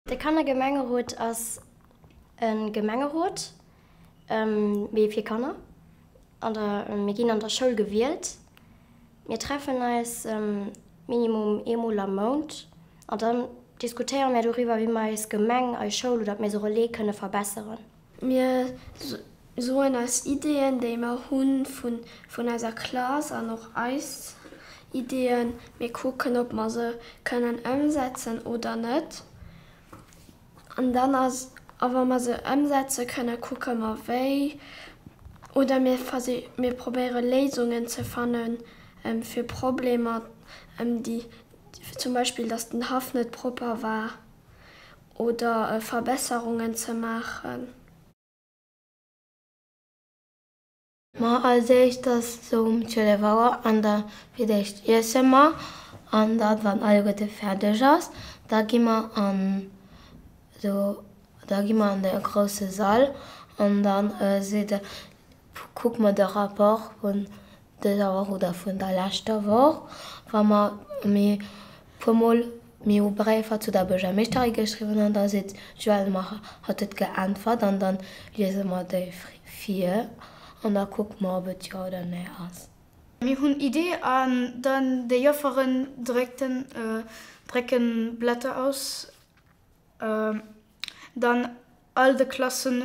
De Kannergemengerot ass e Gemengerot, mee fir Kanner. An der, mir ginn an der Schoul gewielt. Mir treffen eis minimum eemol am Mount an dann diskutéiere mir doriwwer, wéi mer eis Gemeng, eis Schoul oder d'Maison Relais kënne verbesseren. Mir soen eis Ideeën, déi mer hu vun eiser Klass an och eis Ideeën. Mir kucken, ob mer se kënnen ëmsetzen oder net. An dann ass, a wa mer se ëmsetze kënnen, kucke mer wéi. Oder mir versich, mir probéiere Léisungen ze fanne fir Problemer, déi zum Beispill, datt den Haff net propper war. oder Verbesserungen ze maachen. Ma als éischt ass et esou um 12 Auer an da fir d'éischt iesse mer an da wann alleguerte fäerdeg ass, da gi mer an do da gi mer an de grousse Sall an dann seet de kucke mer de Rapport un. dëser Woch oder vun der leschter Woch, wa mer méi puer Mol méi u Bréifer zu der Buergermeeschterin geschriwwen hunn, da seet d'Joëlle, mer hat et geäntwert an dann liese mer déi vir an da kucke mer ob et jo oder nee ass. Mir hunn Idee an dann déi Jofferen drécken d'Blätter aus. Dann all de Klassen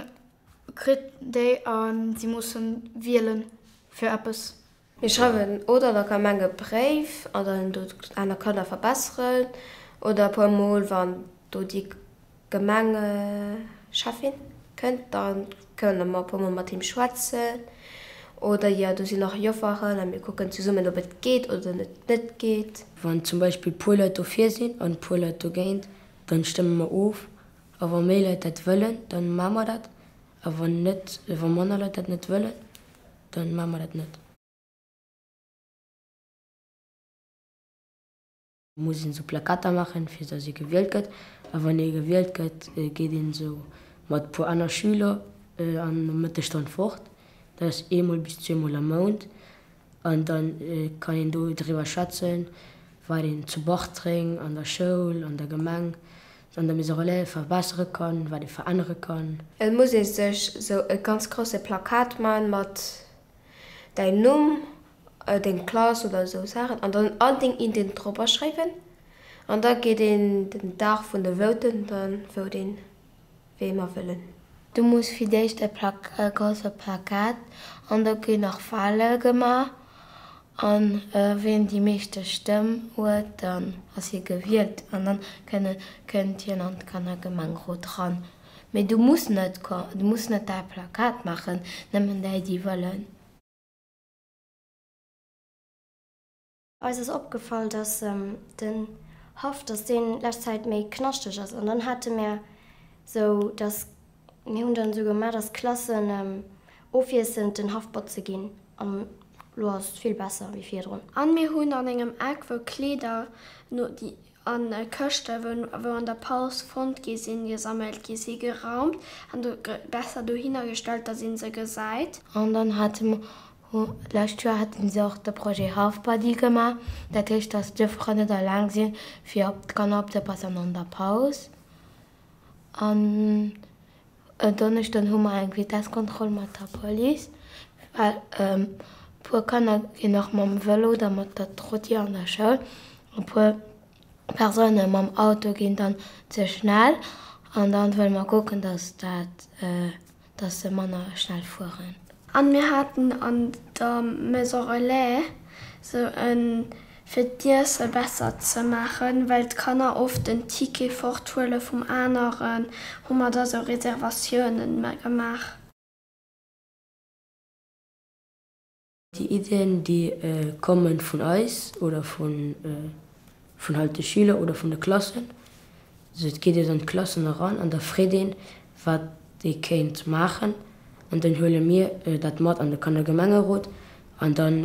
kritt déi an si mussen wielen fir eppes. Mir schreiwen oder der Gemeng e Bréif an dann do aner Kanner verbesseren oder e puer mol wann do déi Gemengecheffin kënnt dann kënne mer e puer mol mat him schwätzen oder jo do sinn nach Jofferen an mir kucken zesummen ob et geet oder net geet. Wann zum Beispill puer Leit dofir sinn an puer Leit dogéint Dann stëmme mer of. A wa méi Leit dat wëllen, dann maache mer dat. A wann net, wa manner Leit dat net wëllen, dann maache mer dat net. Muss een esou Plakater maachen, fir dass ee gewielt gëtt. A wann ee gewielt gëtt, geet een esou mat e puer aner Schüler an der Mëttesstonn fort. Dat ass eemol bis zweemol am Mount. An dann kann een do driwwer schwätzen, wat een zu Bartreng an der Schoul, an der Gemeng, an der Maison Relais verbessere kann, wat ee verännere kann. Et muss ee sech esou e ganz grousse Plakat man mat däin Numm, deng Klass oder esou Saachen an dann all deng Ideen dropper schréiwen. An da geet een den Dag vun de Voten dann vote een. wéi mer wëllen. Du muss fir d'éischt e grousse Plakat an do ginn nach Wale gemaach an ween déi meeschte Stëmm huet, dann ass hie gewielt an dann kënnt hien an de Gemengerot ran. Mee du muss net, du muss net däi Plakat maachen, nëmmen déi, déi wëllen. Eis ass opgefall dass den Haff dass deen lescht Zäit méi knaschteg ass an dann hate mär sou dass mir hunn dann sou gemaach dass d'Klassen ofwiesselnd den Haff botze ginn an lo ass et vill besser wéi virdrun. An mir hunn an engem Eck wou Kleeder no déi a Këschte wou an der Paus fonnt gi sinn, gesammelt gi si, geraumt an do besser dohinner gestallt, datt ee se gesäit. An dann hate mer, lescht Joer hate se och de Projet Halfbuddy gemaach, dat heescht, datt d'Joffer net alleng si fir op d'Kanner opzepassen an der Paus. An. En Donneschden hu mer eng Vitesskontroll mat der Police, well e puer Kanner ginn nach mam Vëlo oder mat der Trotti an der Schoul. E puer Persoune mam Auto ginn dann ze schnell an da wëlle mer kucken, datt dat, datt se manner schnell fueren. An mir haten an der Maison Relais sou e fir d'Iesse besser ze maachen, well d'Kanner oft den Ticket fort huele vum aneren, hu mer da sou Reservatiounen gemaach. Déi Ideen, déi komme vun eis oder vun halt de Schüler oder vun de Klassen. Also et geet ee dann d'Klassen eran an da freet een, wat ee kéint maachen an dann huele mir dat mat an de Kanner Gemengerot an dann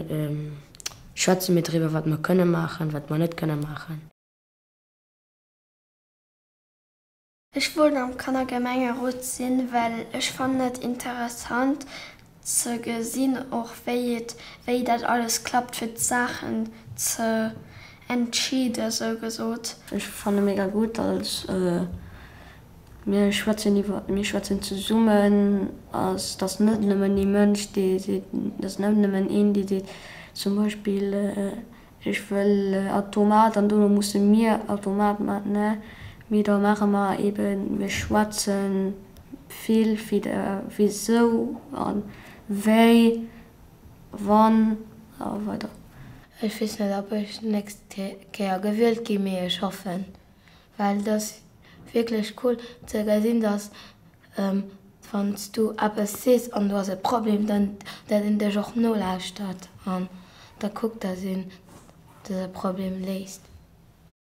schwätze mir driwwer wat mer kënne maachen, wat mer net kënne maachen. Ech wollt am Kannergemengerot sinn, well ech fannen et interessant ze gesinn och wéi et wéi dat alles klappt fir d'Saachen ze entscheede sou gesot. Ech fanne mega gutt als mir schwätzen iwwer mir schwätzen zesummen ass dass net nëmmen ee Mënsch dee seet dass net nëmmen een dee seet zum Beispill Ech wëll a Tomat an dono musse mir a Tomat man, ne? Mee da maache mer eben, mir schwätze vill vit der wisou an wéi, wann a weider. Ech weess net, ob ech d'nächst Kéier gewielt ginn, mee ech hoffen. Well et ass wierklech cool ze gesinn, dass wann s du eppes sees an du has e Problem, dann dat een dech och nolauschtert an da kuckt, dass een dëse Problem léist.